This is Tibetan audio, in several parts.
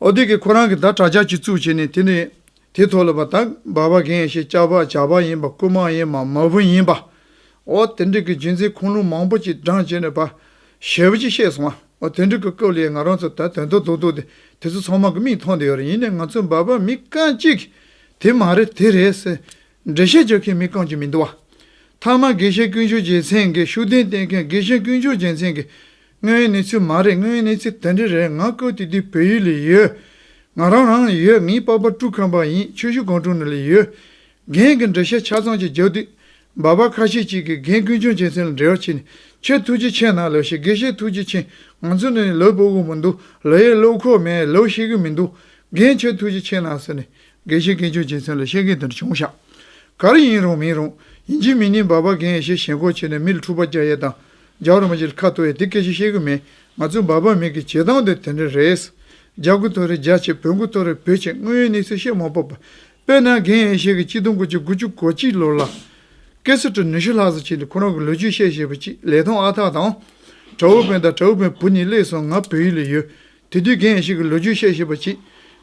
ཨོ་དེ་གིས་ཁོ་རང་གི་ཟླ་གྲགས་ལྕགས་ཀྱིས་བཙུགས་བྱས་ནས་དེ་ནས་དེ་ཐོག་ལ་བ་དག་འབར་བ་གན་ཞེས་ལྕགས་བ་བྱ་བ་ཡིན་པ་རྐུན་མ་ཡིན་པ་མ་བུ་ཡིན་པ། ཨོ་དེ་འགྲིག་གི་རྒྱུན་འཛིན་ཁུངས་ལུང་མང་པོ་ཅིག་བགྲང་བྱས་ནས་བ་ཞེས་བུ་ཅིག་ཤེས་སོང་ཨོ་དེ་འགྲིག་གི་སྐབས་ལས་ང་རང་ཚོ་ད་དོན་དུ་འདུག་འདུག་སྟེ་དེ་ཚོ་ཚང་མ་གི་མིག་མཐོང་དེ་ཡོད་རེད་ཡིན་ནས་ང་ཚོའི་འབར་བ་མི་རྐང་གཅིག་གིས་དེ་མ་རེད་དེ་རེད་ཟེར། འགྲེལ་བཤད་བརྗོད་མཁན་མི་རྐང་གཅིག་མི་འདུག་བ། མཐའ་མ་དགེ་བཤེས་ཀུན་ཤུལ་རྒྱལ་མཚན་གྱིས་ཤུགས་ལྡན་བསྟེན་མཁན་དགེ་བཤེས་ཀུན་ཤུལ་རྒྱལ་མཚན་གྱིས། དངོས་ཡོད་གནས་ཚུལ་མ་རེད་དངོས་ཡོད་གནས་ཚུལ་དེ་འདྲ་རེད་ང་བཀོད་དེ་དུས་བོད་ཡུལ་ལས་ཡོད། ང་རང་རང་ལས་ཡོད་ངའི་པ་པ་ཀྲུའུ་ཁམས་པ་ཡིན་ཆོས་ཞུ་སྒང་དྲུང་ནས་ལས་ཡོད། རྒན་གྱི་འགྲེལ་བཤད་ཆ་ཚང་ཅིག་རྒྱབ་དུས། འབའ་པ་ཁ་ཤས་ཅིག་གིས་རྒན་ཀུན་ཤུལ་རྒྱལ་མཚན་ལ་འབྲེལ་བ་བྱས་ནས་ཁྱོད་ཐུགས་རྗེ་ཆེ་ན་ལོས་ཤེས་དགེ་བཤེས་ཐུགས་རྗེ་ཆེ་ང་ཚོ་ནི་ལོས་པོ་དབུལ་པོ་འདུག་ལོས་ཡས་བློ་ཁོག་མེད་ལོས་ཤེས་གི་མི་འདུག་རྒན་ཁྱོད་ཐུགས་རྗེ་ཆེ་ན་ཟེར་ནས་དགེ་བཤེས་སྐད་ཅོར་བྱེད་ཚུལ་ལ་བཤད་མཁན་དེར་བྱུང་བཞག། གར་ཡིན་རུང་མིན་རུང། ཡིན་གཅིག་མིན་གཉིས་འབའ་འབའ་གན་ཡེ་ཤེས་ཞེན་ཁོག་བྱས་ནས་མི་ལ་འཁྲུག་པ་རྒྱག་ཡས་དང་རྒྱག་རུང་བ་ཞིག་ལ་ཁ་ཐོ་ཡས་དེ་སྐད་ཆ་བཤད་གི་མེད་ང་ཚོའི་འབའ་འབའ་མིག་གི་བྱེད་སྟངས་དེ་དེ་འདྲ་རེད། རྒྱ་གུ་ཐོ་རེ་རྒྱ་བྱེད་བོད་གུ་ཐོ་རེ་བོད་བྱེད་དངོས་ཡོད་གནས་ཚུལ་བཤད་མ་སྤོབས་པ། དཔེར་ན་གན་ཡེ་ཤེས་ཀྱིས་སྤྱི་སྟོང་དགུ་བཅུ་དགུ་བཅུ་གོ་གཅིག་ལོར་ལ། སྐད་སོ་དྲུག་ནུས་ཤུགས་ལྷག་བསུ་བྱས་ཏེ་ཁོ་རང་གི་ལོ་རྒྱུས་བཤད་ཞེས་པ་གཅིག་ལས་ཐོང་ཨ་ཐག་དང། དྲ་འུ་བོན་དང་དྲ་འུ་བོན་བུ་གཉིས་གླས་སོང་ང་བོད་ཡུལ་ལ་ཡོད། དེ་དུས་རྒན་ཡེ་ཤེས་ཀྱི་ལོ་རྒྱུས་བཤད་ཤེས་པ་གྱིས།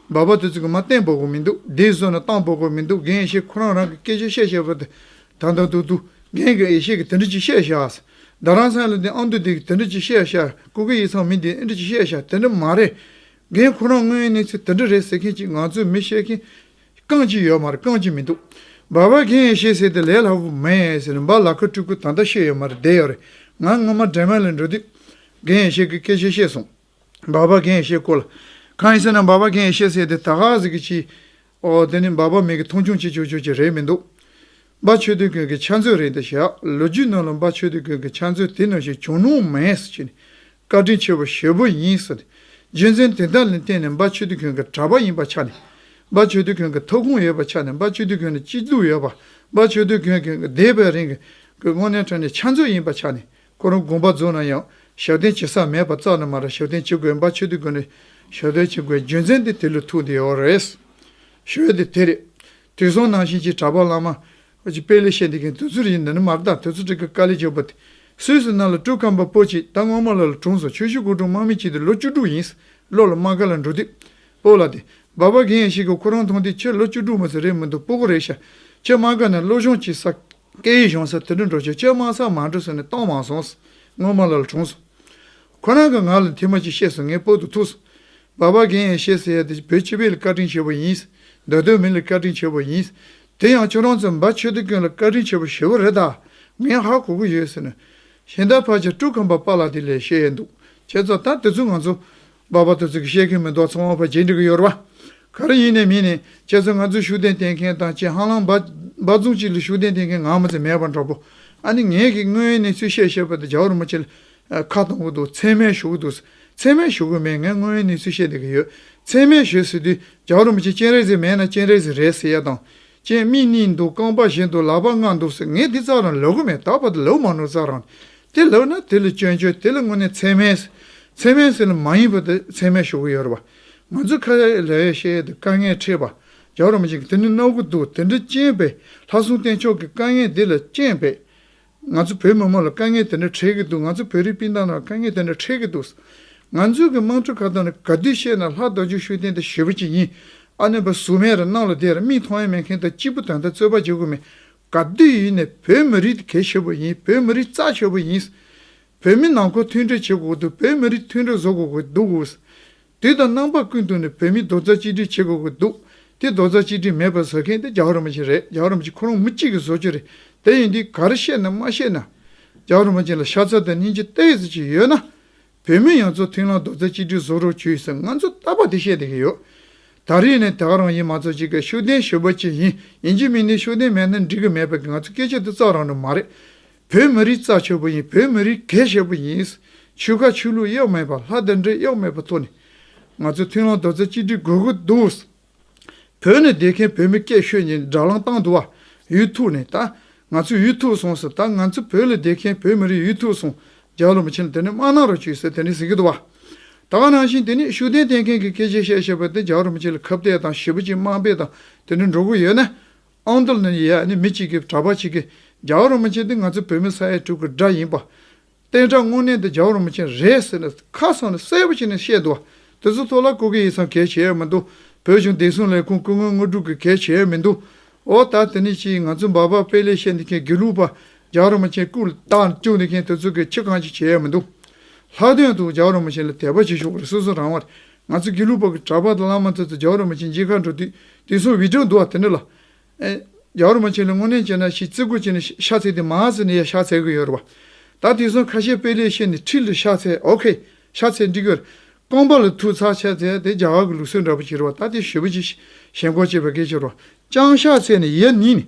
འབའ་བ་དེ་ཚོ་གི་མ་གཏན་འབོག་གོ་མི་འདུག་དེའི་བཟོ་ན་གཏང་འབོག་གོ་མི་འདུག་རྒན་ཡེ་ཤེས་ཁོ་རང་རང་གི་སྐད་ཆ་བཤད་ཤེས་པ་དེ་དང་དང་དུ་དུ་རྒན་གྱི་ཡེ་ཤེས་ཀྱི་དེ་འདྲི་གཅིག་བཤད་ཤག་ཟེར་ད་རང་སངས་ལ་དེ་ཨང་དུ་དེ་གི་དེ་འདྲི་གཅིག་བཤད་ཤག་ཀུ་ཀི་ཡིག་ཚང་མི་དེ་ཨེ་འདྲི་གཅིག་བཤད་ཤག་དེ་འདྲི་མ་རེད། རྒན་ཁོ་རང་དངོས་ཡོད་གནས་ཚུལ་དེ་འདྲི་རེད་ཟེར་མཁན་གཅིག་ང་ཚོའི་མི་བཤད་མཁན་རྐང་གཅིག་ཡོད་མ་རེད་རྐང་གཅིག་མི་འདུག་འབའ་བ་རྒན་ཡེ་ཤེས་ཟེར་དེ་ལས་སླ་བོ་མ་ཡིན་ཟེར་འབའ་ལ་ཁ་སྤྲུལ་སྐུ་ད་ལྟ་ཤེས་ཡོད་མ་རེད་བསྡད་ཡོད་རེད་ང་སྔོན་མ་འདྲེ་མོ་ལ་འགྲོ་དུས་རྒན་ཡེ་ཤེས་ཀྱི་སྐད་ཆ་བཤད་སོང། འབའ་པ་མཁན་ཡེ་ཤེས་བསྐོ་ལ། གང་ཡིན་ཟེར་ན་འབའ་པ་མཁན་ཡེ་ཤེས་ཟེར་དེ་ད་ག་ཟིག་གི་ཕྱིའི། ཨོ་དེ་ནི་འབའ་པ་མིག་གིས་མཐོང་ཆུང་བྱེད་ཆོག་ཆོག་ཅིག་རེད་མི་འདུག། འབའ་ཆོས་དུས་ཀུན་གྱི་ཕྱག་མཛོད་རེད་འདི་བཞག་ལོ་རྒྱུས་ནང་ལ་འབའ་ཆོས་དུས་ཀུན་གྱི་ཕྱག་མཛོད་དེ་ནང་བཞིན་བྱུང་ནོངས་མེད་ཟེར་གྱི་ནི། བཀའ་དྲིན་ཆེ་བོ་ཞེ་བོ་ཡིན་ཟེར་ཏེ། རྒྱུ་མཚན་དེ་དག་ལ་བརྟེན་ནས་འབའ་ཆོས་དུས་ཀུན་གྱི་གྲྭ་པ་ཡིན་པ་ཆ་ནས། འབའ་ཆོས་དུས་ཀུན་གྱི་ཐོབ་ཁུངས་ཡོད་པ་ཆ་ནས་འབའ་ཆོས་དུས་ཀུན་ལ་སྐྱིད་སྡུག་ཡོད་པ་འབའ་ཆོས་དུས་ཀུན་གྱི་འདས་པའི་རིང་གི་སྔོན་གནས་ཁྲོད་ནས་ཕྱག་མཛོད་ཡིན་པ་ཆ་ནས་ཁོ་རང་དགོངས་པ་རྫོགས་ན་ཡང་ཞབས་བརྟན་བྱེད་ས་མེད་པ་རྩ་ནས་མ་རེད་ཞབས་བརྟན་བྱེད་དགོས་འབའ་ཆོས་སྡེ་ཀུན་ནས་ཞབས་བརྟན་བྱེད་དགོས་རྒྱུ་མཚན་དེ་དེ་ལུགས་ཐུགས་དེ་ཡོད་རེད། ཞོལ་དེ་དེ་རེད། དུས་སོང་ནང་བཞིན་གྱི་གྲྭ་པ་བླ་མ། དཔེ་ལས་བཤད་འདི་གའི་དུས་ཚོད་རིང་འདི་ནི་མ་བརྟག་དུས་ཚོད་ཀྲི་ཀ་དཀའ་ལས་སྤྱོད་པོ་དེ་སུས་སུ་གནང་ལ་སྤྲུལ་སྐམ་པ་པོ་གཅིག་ད་སྔོན་མ་ལོ་ལ་དྲུང་སོང་ཆོས་ཞུ་སྐུ་དྲུང་དམག་མི་གཅིག་དེ་ལོ་བཅུ་དྲུག་ཡིན་ལོ་ལ་དམག་སྒར་ལ་འགྲོ་དུས། སྤོ་ལ་དེ། འབའ་པ་གན་ཡ་ཞིག་གིས་ཁོ་རང་མཐོང་དུས་ཁྱོད་ལོ་བཅུ་དྲུག་མ་ཟེར་རེད་མི་འདུག་སྤོ་གོ་རེད་ཤ། ཁྱོད་དམག་སྒར་ནས་བློ་སྦྱོང་བྱེད་ས། སྐད་ཡིག་གཞུང་སར་དུད་འགྲོ་འགྲོ་ཆོས་སྤྱོད་མང་སར་མང་འགྲོས་སོང་ནས་སྟོང་མང་སོང། སྔོན་མ་ལ་ལ་གྲོངས་སོང། ཁོ་རང་གི་ངག་ལ་མཐིལ་མ་གཅིག་ཤེས་སོང་ངས་སྤོད་དུ་ཐུག་སོང། བ་བ་གན་ཡང་ཤེས་ཟེར་ཡ་དེ་བོད་སྤྱི་བའི་ལ་བཀའ་དྲིན་ཆེ་བོ་ཡིན། འདོད་དོན་མི་ལ་བཀའ་དྲིན་ཆེ་བོ་ཡིན། དེ་ཡང་ཁྱོད་རང་ཚོ་འབའ་ཆོས་སྡེ་ཀུན་ལ་བཀའ་དྲིན་ཆེ་བོ་ཞུ་བ་རེད་ད། ངས་ཧ་གོ་གི་ཡོད་ཟེར་ནས། ཤིང་རྟ་ཕར་ཆེར་དཀྲུགས་ཁམས་པ་པ་ལགས་དེ་ལས་བཤད་ཡས་འདུག་ཁྱེད་ཚོ་ད་དེ་ཚོ་ང་ཚོ། པ་བར་དུ་ཚིག་བཤད་མཁན་མི་འདུག་ཚང་མ་བར་ཇེ་འགྲིག་གི་ཡོད་རེད་པ། ག་རེ་ཡིན་ནས་མིན་ནས་ཁྱེད་ཚོས་ང་ཚོའི་ཤུགས་ལྡན་བསྟེན་མཁན་དང་ཁྱེད་ཧང་ལང་འབའ་རྫོང་གཅིག་ལ་ཤུགས་ལྡན་བསྟེན་མཁན་ངང་མ་ཚད་མེད་པ་འདྲ་པོ། ཨ་ནི་ངེད་ཀྱིས་དངོས་ཡོད་གནས་ཚུལ་བཤད་ཤེས་པ་དེ་ཇའོ་རུ་མ་ཁྱེད་ཁ་གཏོང་གི་འདུག་མཚན་སྨད་ཞུ་གི་འདུག་མཚན་སྨད་ཞུ་གི་མེད་ངས་དངོས་ཡོད་གནས་ཚུལ་བཤད་བསྡད་ཀྱི་ཡོད། མཚན་སྨད་ཞུས་ཟེར་དུས་ཇའོ་རུ་མ་ཁྱེད་སྤྱན་རས་གཟིགས་མེད་ན་སྤྱན་རས་གཟིགས་རེད་ཟེར་ཡ་དང། ཅན་རྨིས་ནི་འདུག་རྐང་པ་བཞིན་དུ་ལག་པ་ལྔ་འདུག་ཟེར་ངས་འདི་ཙག་རང་ལོ་གོ་མེད་ད་བར་དུ་ལོ་མང་ནོར་ཙག་རང་དེ་ལོ་ན་དེ་ལ་སྐྱོན་བརྗོད་དེ་ལ་དངོས་གནས་ཚད་མའི་ཚད་མའི་ཟེར་ལ་མ་ཡིན་པ་དེ་ཚད་མའི་ཞོག་གི་ཡོད་རེད་པ་ང་ཚོས་ཁ་ལས་བཤད་དེ་དཀའ་ངལ་འཕྲད་པ་རྒྱག་རོགས་མ་བྱེད་ཀི་དེ་ནི་རྣོ་གི་འདུག་དེ་འདྲ་རྐྱེན་པས་ལྷ་སྲུང་བསྟན་མཆོག་གི་དཀའ་ངལ་འདི་ལ་རྐྱེན་པས་ང་ཚོ་བོད་མི་མང་ལ་དཀའ་ངལ་དེ་འདྲ་འཕྲད་ཀྱི་འདུག་ང་ཚོ་བོད་རིགས་སྤུན་ཟླ་རྣམས་ལ་དཀའ་ངལ་དེ་འདྲ་འཕྲད་ཀྱི་འདུག་ང་ཚོའི་གི་དམངས་ཁྲོད་ཁ་ཏོན་ལ་ག་དུས་བཤད་ན་ལྷ་རྡོ་རྗེ་ཤུགས་ལྡན་དེ་ཞེ་བོ་ཅིག་ཡིན་ཨ་ནུས་པ་ཟུག་མེད་ར་གནང་ལ་དེ་ར་མིག་མཐོང་ཡ་མེད་མཁན་དང་གཅིག་པུ་དོན་དག་རྩོད་པ་བྱེད་དགོས་མེད་ག་དུས་ཡིན་ནས་བོད་མི་རིགས་དེ་གལ་ཆེ་བོ་ཡིན་བོད་མི་རིགས་རྩ་ཆེ་བོ་ཡིན། བོད་མི་ནང་ཁོག་མཐུན་སྒྲིལ་བྱེད་དགོས་འདུག་བོད་མི་རིགས་མཐུན་སྒྲིལ་བཟོ་དགོས་འདུག་དུས་དང་རྣམ་པ་ཀུན་ཏུ་ནས་བོད་མིས་རྡོ་རྩ་གཅིག་སྒྲིལ་བྱེད་དགོས་ཀྱི་འདུག་དེ་རྡོ་རྩ་གཅིག་སྒྲིལ་མེད་པར་ཟ་མཁན་དེ་རྒྱ་གར་བ་ཅན་རེད་རྒྱ་གར་བ་ཅན་ཁོ་རང་མི་གཅིག་གི་བཟོ་བཅོས་རེད་དེ་ཡིན་དུས་ག་རེ་བཤད་ནས་མ་བཤད་ན། རྒྱ་གར་བ་ཅན་ལ་ཤ་ཚ་དང་སྙིང་རྗེ་སྟེར་ཡས་ཚོད་ཅིག་ཡོད་ན། བོད་མི་ཡང་ཚོ་ཐིང་ལ་རྡོ་རྩ་གཅིག་སྒྲིལ་བཟོ་རོགས་བྱོས་ཟེར་ང་ཚོ་ལྟ་བ་དེ་བཤད་བསྡད་ཀྱི་ཡོད། ད་རེས་ནས་ད་ག་རང་ཡིན་མ་ཚོ་གཅིག་གི་ཤུགས་ལྡན་ཞུ་བ་ཅིག་ཡིན་ཡིན་གྱི་མིན་ནས་ཤུགས་ལྡན་མེད་ན་འགྲིག་གི་མེད་པ་གི་ང་ཚོ་སྐད་ཆ་དེ་ཙག་རང་རེད་མ་རེད། བོད་མི་རིགས་རྩ་ཆོད་པོ་ཡིན་བོད་མི་རིགས་གལ་ཆེ་པོ་ཡིན། ཆོལ་ཁ་ཆོས་ལུགས་གཡག་མེད་པ་ལྷ་རྟེན་འབྲེལ་གཡག་མེད་པ་ཐོག་ནས་ང་ཚོས་མཐུན་ལམ་རྡོ་རྩ་གཅིག་སྒྲིལ་དགོས་ཀྱི་འདུག་བོད་ནས་བསྡད་མཁན་བོད་མི་སྐད་ཤོད་ཉིན་སྒྲ་ལང་བཏང་འདུག་བ་ཡུལ་ཐུག་ནས་ད་ང་ཚོས་ཡུལ་ཐུག་སོང་ཟེར་ད་ང་ཚོ་བོད་ལ་བསྡད་མཁན་བོད་མི་རིགས་ཡུལ་ཐུག་སོང་རྒྱ་ལོ་མི་ཆེན་དེ་ནི་དམག་ནང་རུ་བཅུག་ཟེར་དེ་ནི་ཟེར་གྱི་འདུག་བ་ད་ག་ནང་བཞིན་དེ་ནི་ཤུགས་ལྡན་བསྟེན་མཁན་གྱི་སྐད་ཆ་བཤད་བཤད་པ་དེ་རྒྱ་རུ་མི་ཆེན་ལ་ཁ་བརྡས་དང་ཞེ་པོ་ཅིག་དམག་དཔེ་དང་དེ་འདྲ་འགྲོ་གི་ཡོད་ན་ཨང་ཏུ་ལན་ཡེ་ཡཱ་ནི་མི་གཅིག་གིས་གྲྭ་པ་ཞིག་གིས་རྒྱའུ་རིན་པོ་ཆེ་འདི་ང་ཚོའི་བོད་མི་ས་ཡ་དྲུག་གི་སྦྲ་ཡིན་པ། བསྟན་དགྲ་དངོས་གནས་འདི་རྒྱའུ་རིན་པོ་ཆེ་རེད་ཟེར་ནས་ཁ་སང་ལ་གསལ་པོ་བྱས་ནས་བཤད་འདུག་བ། དེ་ཚོ་ཐོག་ལ་སྐུ་སྒེར་ཡིག་ཚང་གལ་ཆེ་ཡ་མི་འདུག་བོད་གཞུང་བདེ་སྲུང་ལས་ཁུངས་སྐུ་ངོ་དངོས་སྒྲུབ་གི་གལ་ཆེ་ཡ་མི་འདུག་འོ་ད་དེ་ནི་ཅིའི་ང་ཚོ་འབའ་འབའ་དཔེ་ལས་བཤད་འདི་མཁན་དགེ་ལུགས་པ་རྒྱའུ་རིན་པོ་ཆེ་སྐུ་དང་བཅུག་འདི་མཁན་དེ་ཚོ་གི་ཁྱི་གང་ཅི་བྱེད་ཡ་མི་འདུག་ལྷག་དོན་དུ་རྒྱའུ་རིན་པོ་ཆེ་ལ་དད་པ་བྱེད་ཤོག་རེ་སོ་སོ་རང་བ་ང་ཚོས་དགེ་ལུགས་པ་གྲྭ་པ་དང་བླ་མ་དེ་ཚོ་རྒྱ་བོད་ར་མ་ཆེན་མཇལ་ཁར་འགྲོ་དུས་དེང་སང་བྷི་ཀྲོ་འདུག་བ་དེ་འདྲ་ལ། རྒྱ་བོད་ར་མ་ཆེན་ལ་དངོས་གནས་བྱས་ན་ཞེས་བརྩི་བཀུར་བྱས་ནས་ཤ་ཚས་དེ་མ་ཟེར་ནས་ཡ་ཤ་ཚས་གི་ཡོད་རེད་བ། ད་དེང་སང་ཁ་ཤས་དཔེ་ལས་ཤེས་ནས་ཁྲིད་ལ་ཤ་ཚས་ཨོ་ཁེ། ཤ་ཚས་འགྲིག་གི་རེད། རྐང་པ་ལ་ཐུག་ཚར་ཤ་ཚས་དེ་རྒྱ་གར་གི་ལུགས་སྲོལ་འདྲ་པོ་བྱེད་རེད་བ་ད་དེ་ཞོལ་བོད་ཀྱི་ཞེན་ཁོག་ཅེས་པའི་སྐད་ཆ་རོ། ཅང་ཤ་ཚས་ནས་ཡ་ནི་ནི།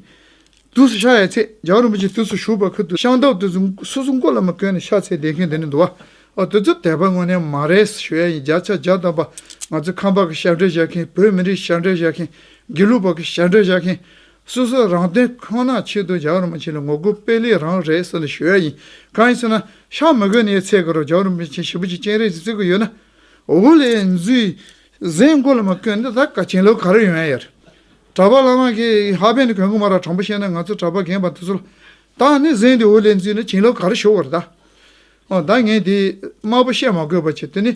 དུས་སུ་ཤ་ཡའི་ཚེ་རྒྱལ་བ་རིན་པོ་ཆེ་དུས་སུ་བཞུགས་པར་ཁུར་དུ་ཤངས་སྟབས་དུས་སུ་སོ་སོ་མགོ་བླ་མ་ཀོན་ནས་ཤ་ཚའི་སྡེ་ཁན་དེ་ནས་འདུ་བ། ཨོ་དུས་སུ་དད་པ་དངོས་གནས་མ་རེད་ཞུ་ཡ་ཡིན་བརྒྱ་ཆ་བརྒྱ་བཏབ་པ་ང་ཚོའི་ཁམས་པ་གི་ཤ་འབྲས་བཞག་མཁན་བོད་མི་རིགས་ཤ་འབྲས་བཞག་མཁན་དགེ་ལུགས་པ་གི་ཤ་འབྲས་བཞག་མཁན། སོ་སོ་རང་དོན་ཁོ་ན་ཆེད་དུ་རྒྱལ་བ་རིན་པོ་ཆེ་ལ་ངོ་རྒོལ་དཔེ་ལེགས་རང་རེད་ས་ལ་ཞུ་ཡ་ཡིན་གང་ཡིན་ཟེར་ན་ཤ་མི་དགོས་ནས་ཡའི་ཚད་དགོས་རོགས་རྒྱལ་བ་རིན་པོ་ཆེ་ཞི་པོ་ཆེ་སྤྱན་རས་གཟིགས་ཚུལ་དགོས་ཡོད་ན། འོ་ལེ་འཛུལ་གཟན་མགོ་ལ་མ་བསྐོན་ད་ད་ག་ཆེན་ལོ་ག་རེ་ཡོད་ཨ་ཡར། གྲྭ་པ་བླ་མ་གིས་ཧ་པན་གོས་མགོ་མ་ར་དྲང་པོ་བཤད་ན་ང་ཚོ་གྲྭ་པ་རྒན་པ་འདི་ཚོ་ལ་ད་ནི་གཟན་དེ་འུར་ལེན་བརྩིས་ན་ཆེན་ལོ་ག་རེ་ཞོག་བར་ད། ཨོ་ད་ངས་དེ་དམར་པོ་བཤད་མ་དགོས་པ་བྱས་དེ་ནི་